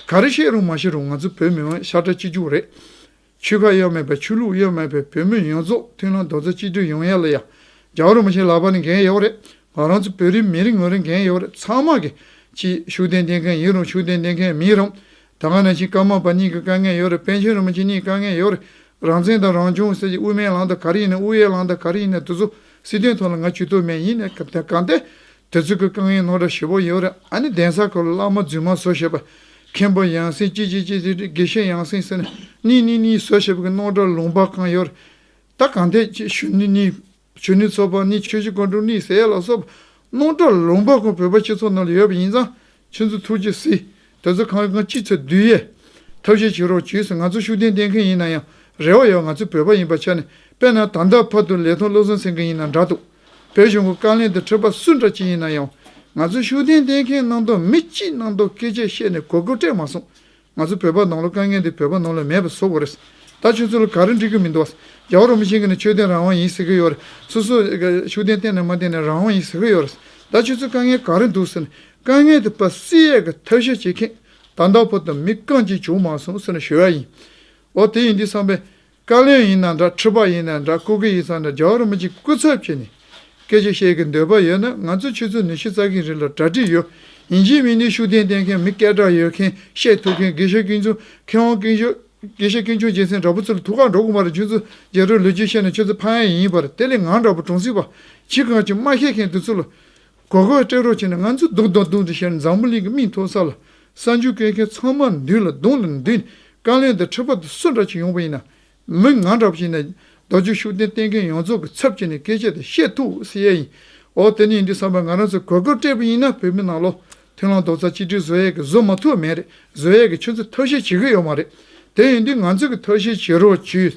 ག་རེ་བཤད་རུང་མ་བཤད་རུང་ང་ཚོ་བོད་མི་དབང་ཤར་དྲག་སྤྱི་རྒྱུགས་རེད། ཆོལ་ཁ་གཡོ་མེད་པ་ཆོས་ལུགས་གཡོ་མེད་པའི་བོད་མི་ཡོངས་རྫོགས་མཐུན་ལམ་རྡོག་རྩ་གཅིག་སྒྲིལ་ཡོང་ཡ་ལ་ཡ་རྒྱ་བོར་མི་བྱེད་ལག་པ་ནས་འགན་ཡོད་རེད་ང་རང་ཚོ་བོད་རིགས་མི་རིགས་ངོས་རེ་འགན་ཡོད་རེད་ཚང་མ་གི་གཅིག་ཤུགས་ལྡན་ལྡན་མཁན་ཡིན་རུང་ཤུགས་ལྡན་ལྡན་མཁན་མིན་རུང་ད་སྔ་ནང་བཞིན་སྐར་མ་པ་གཉིས་ཀྱི་དཀའ་ངལ་ཡོད་རེད་པན་ཆེན་རིན་པོ་ཆེ་གཉིས་དཀའ་ངལ་ཡོད་རེད་རང་བཙན་དང་རང་སྐྱོང་ཟེར་གྱི་དབུ་མའི་ལམ་དང་ག་རེ་ཡིན་ན་དབུ་ཡའི་ལམ་དང་ག་རེ་ཡིན་ན་དེ་ཚོ་སྲིད་དོན་ཐོག་ལ་ང་ཇུས་གཏོགས་མེད་ཡིན་ནའི་གང་ལྟས་དེ་ཚོས་ཀྱི་རྐང་ཡིག་ནོར་འདྲ་ཞེ་པོ་ཡོད་རེད་ཨ་ནི་གདན་ས་ཁག་ལ་བླ་མ་རྫུན་མ་བཟོ་ཤེས་པ། མཁན་པོ་ཡང་སྲིང་ཅི་ཅི་ཅི་ཅི་རེད་དགེ་བཤེས་ཡང་སྲིང་ཟེར་ནས་གཉིས་གཉིས་གཉིས་བཟོ་ཤེས་པ་གི་ནོར་འདྲ་ལུང་པ་གང་ཡོད་རེད། ད་གང་ཐད་ཀྱི་གཞོན་ནུ་གཉིས། གཞོན་ནུ་ཚོགས་པ་གཉིས་ཆོས་གཞི་དགོན་དྲུག་གཉིས་ཟེར་ཡ་ལ་སོགས་པ། ནོར་འདྲ་ལུང་པ་ཁོང་བོད་པ་སྤྱི་ཚོགས་ནང་ལ་ཡོད་པ་ཡིན་ཙང་ཁྱེད་ཚོས་ཐུགས་རྗེ་གཟིགས། དེ་ཚོ་གང་ཡོད་གང་ཅི་ཚོད་བསྡུས་ཡས། ཐབས་ཤེས་བྱེད་རོགས་བྱོས་ཟེར་ང་ཚོ་ཤུགས་ལྡན་བསྟེན་མཁན་ཡིན་ན་ཡང་རེ་བ་ཡོད་ང་ཚོ་བོད་པ་ཡིན་པ་ཆ་ནས་དཔེ་ན་ད་ལྟ་ཕ་དུ་ལས་ཐོག་བློ་བཟང་སེང་གེ་ཡིན་ན་འདྲ་འདུག་བོད་གཞུང་གི་བཀའ་ལན་དུ་འཕྲོས་པ་སུ་འདྲ་ཅི་ཡིན་ན་ཡང། ང་ཚོས་ཤུགས་ལྡན་བསྟེན་མཁན་གནང་དོན་མི་གཅིག་གནང་དོན་སྐད་ཆ་བཤད་ནས་གོ་བགོ་སྤྲད་མ་སོང། ང་ཚོ་བོད་པ་ནང་ལོ་དཀའ་ངལ་འདི་བོད་པ་ནང་ལ་མེད་པ་བཟོ་དགོས་རེད། ད་ཁྱོད་ཚོ་ལ་ག་རེ་འགྲིག་གི་མི་འདུག་བ། རྒྱ་བོ་རོ་མི་ཆེན་གི་ནི་ཆོས་ལྡན་རང་དབང་ཡིན་ཟེར་གི་ཡོད་རེད། སོ་སོ། ཤུགས་ལྡན་བསྟེན་ནས་མ་བསྟེན་ནས་རང་དབང་ཡིན་ཟེར་གི་ཡོད་རེད། ད་ཁྱོད་ཚོའི་དཀའ་ངལ་ག་རེ་འདུག་ཟེར་ནས་དཀའ་ངལ་དེ་པ་སི་ཡས་ཀྱི་ཐབས་ཤེས་བྱེད་མཁན་དར་མདའ་བོ་དང་མི་རྐང་གཅིག་བྱུང་མ་སོང་ཟེར་ནས་ཞུ་ཡ་ཡིན། འོ་དེ་ཡིན་འདི་བསམ་པས། བཀའ་བློན་ཡིན་ན་འདྲ་ཁྲི་པ་ཡིན་ན་འདྲ་སྐུ་སྒེར་ཡིན་ཚང་འདྲ་རྒྱ་གར་མི་གཅིག་སྐུ་ཚབ་བྱས་ནས་སྐད་ཆ་བཤད་གི་འདོད་པ་ཡོད་ན་ང་ཚོ་ཆུ་ཚོད་ནུས་ཤིག་རྩ་གིན་རིགས་ལ་གྲ་སྒྲིག་ཡོད་ཡིན་གཞིས་མི་ནི་ཤུགས་ལྡན་བསྟེན་མཁན་མི་སྐད་གྲགས་ཡོད་མཁན་བཤད་ཐུབ་མཁན་དགེ་བཤེས་ཀིང་ཆུང་མཁས་དབང་ཀིང་ཆུང་དགེ་བཤེས་ཀིང་ཆུང་རྒྱལ་མཚན་འདྲ་པོ་ཚུར་ཐུག་གང་འགྲོ་གོང་མ་རེད་ཆུ་ཚོད་བརྒྱད་རོལ་ལོས་རྒྱུས་བཤད་ན་ཆུ་ཚོད་ཕ་ཡན་ཡིན་པར་དེ་ལས་ངང་འདྲ་པོ་གྲོང་སྲིད་པ་གཅིག་གང་ཅི་མ་ཤེས་མཁན་དེ་ཚུར་ལ་གོ་གོས་སྤྲད་རོགས་བྱས་ན་ང་ཚོ་སྡུག་དང་སྡུག་ཏུ་ཤར་འཛམ་བུ་གླིང་གི་མིག་མཐོ་ས་ལ་གསར་འགྱུར་སྐད་མཁན་ཚང་མ་འདུས་ལ་རྡུང་ལ་འདུས་ནས་བཀའ་བློན་དང་ཁྲི་པ་དང་སུ་འདྲ་ཞིག་ཡོང་པ་ཡིན་ན་མི་ང་འདྲ་བ་ཞིག་ཡིན་ན་རྡོ་རྗེ་ཤུགས་ལྡན་བསྟེན་མཁན་ཡོངས་རྫོགས་ཀྱི་ཚབ་བྱས་ནས་སྐད་ཆ་དེ་བཤད་ཐུབ་ས་ཡ་ཡིན་འོ་དེ་ནི་ཡིན་དུས་བསམ་པར་ང་རང་ཚོ་གོ་གོས་སྤྲད་པ་ཡིན་ན་བོད་མི་ནང་ལོག་མཐུན་ལམ་རྡོག་རྩ་གཅིག་སྒྲིལ་བཟོ་ཡས་ཀྱི་བཟོ་མ་ཐུབ་མེད་རེད་བཟོ་ཡས་ཀྱི་ཆུ་ཚོད་ཐབས་ཤེས་བྱེད་གི་ཡོད་མ་རེད་དེ་ཡིན་དུས་ང་ཚོ་གི་ཐབས་ཤེས་བྱེད་རོགས་བྱོས་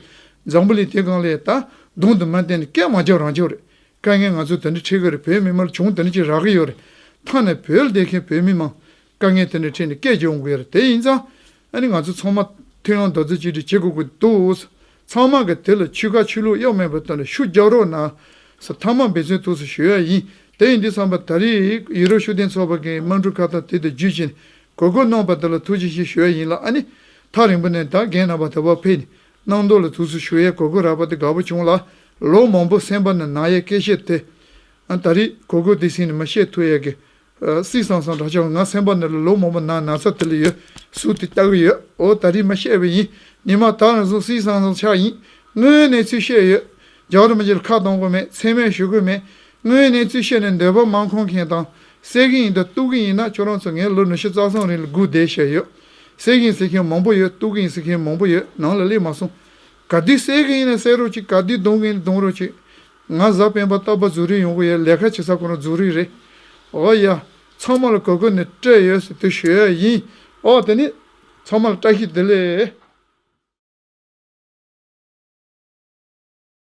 འཛམ་བུ་གླིང་དེ་གང་ལས་ད་དུང་དུ་མ་བསྟན་ནས་སྐད་མ་རྒྱབ་རང་བྱོས་རེད་དཀའ་ངལ་ང་ཚོས་དེ་འདྲ་འཕྲད་གི་རེད་བོད་མི་དམར་བྱུང་དེ་འདྲ་ཅིག་རག་གི་ཡོད་རེད། མཐའ་ནས་བོད་སྡེ་མཁན་བོད་མི་མང་དཀའ་ངལ་དེ་འདྲ་འཕྲད་ནས་སྐད་བརྗོད་འོང་གི་ཡོད་རེད་དེ་ཡིན་ཙང་ཨ་ནི་ང་ཚོ་ཚང་མ་མཐུན་ལམ་རྡོག་རྩེ་གཅིག་སྒྲིལ་བྱེད་དགོས་ཀྱི་འདུག་ཨོ་ས་ཚང་མ་གི་དེ་ལ་ཆུ་ཁ་ཆུ་ལུག་གཡོག་མེད་པ་དོན་ལ་ཤུགས་རྒྱག་རོགས་གནང་ཨོ་ས་མཐའ་མ་འབད་བརྩོན་ཐུགས་སུ་ཞུ་ཡ་ཡིན་དེ་ཡིན་དུས་བསམ་པ་ད་རེས་ཡུ་རོབ་ཤུགས་ལྡན་ཚོགས་པ་གིས་དམངས་ཁྲོད་ཁ་བཏགས་དེ་དུ་བརྒྱུད་བྱས་ནས་གོ་བསྐོན་གནང་བ་དེ་ལ་ཐུགས་རྗེ་ཆེ་ཞུ་ཡ་ཡིན་ལ་ཨ་ནི་ཐག་རིང་པོ་ནས་ད་རྒན་རྣམ་པ་དེ་བ་ཕེབས་ནས་སྣང་མདོ་ལ་དུས་སུ་ཞུ་ཡས་གོ་གོས་རགས་པ་དེ་དགའ་བོ་བྱུང་ལ། ལོ་མང་པོ་སེམས་པ་ན་ནག་ཡས་སྐད་བཤད་དེ། ད་རེས་གོ་གོས་དེ་ཟིན་ནས་མ་བཤད་ཐུ་ཡས་ཀྱི། སིག་སང་སང་གྲགས་ཆེ་བ་ང་སེམས་པ་ན་ལ་ལོ་མང་པོ་ནང་ན་ཚ་དེ་ལ་ཡོད་སུ་དེ་བལྟ་གི་ཡོད་འོ་ད་རེས་མ་བཤད་པས་ཡིན་ནི་མ་ད་ནས་བཟུང་སིག་སང་སང་ཆགས་ཡིན། དངོས་གནས་ཚུལ་བཤད་ཡོད། རྒྱག་རུ་མ་གྱི་ལ་ཁ་གཏོང་གི་མེད་མཚན་སྨད་ཞུ་གི་མེད། དངོས་གནས་ཚུལ་བཤད་ནས་འདོད་པ་མང་ཁོང་མཁན་དང། སེ་གི་ཡིན་དང་སྟུག་གི་ཡིན་ན་ཁྱོད་རང་ཚོ་ངའི་ལོ་ནུ་ཤུ་རྩ་གསུམ་རིང་ལ་སྒུག་བསྡད་བཤད་ཡོད། གསལ་གྱིན་གསལ་མཁན་མང་པོ་ཡོད་གཏུག་གིན་གསུག་མཁན་མང་པོ་ཡོད་ནང་ལ་སླེབས་མ་སོང། ག་དུས་གསལ་གིན་ཡིན་ན་གསལ་རོགས་གཅིག་ག་དུས་གདུང་གིན་གདུང་རོགས་གཅིག། ང་གཟའ་སྤེན་པ་རྟ་པ་རྫུ་རིགས་ཡོང་གི་ཡོད་ལས་ཁ་བྱེད་ས་གང་རུང་རྫུ་རིགས་རེད། འོ་ཡ། ཚང་མ་ལ་གོ་གོ་ནས་སྤྲད་ཡོད་ཟེར་དུས་ཞུ་ཡ་ཡིན། ཨོ་དེ་ནི། ཚང་མ་ལ་བཀྲ་ཤིས་བདེ་ལེགས།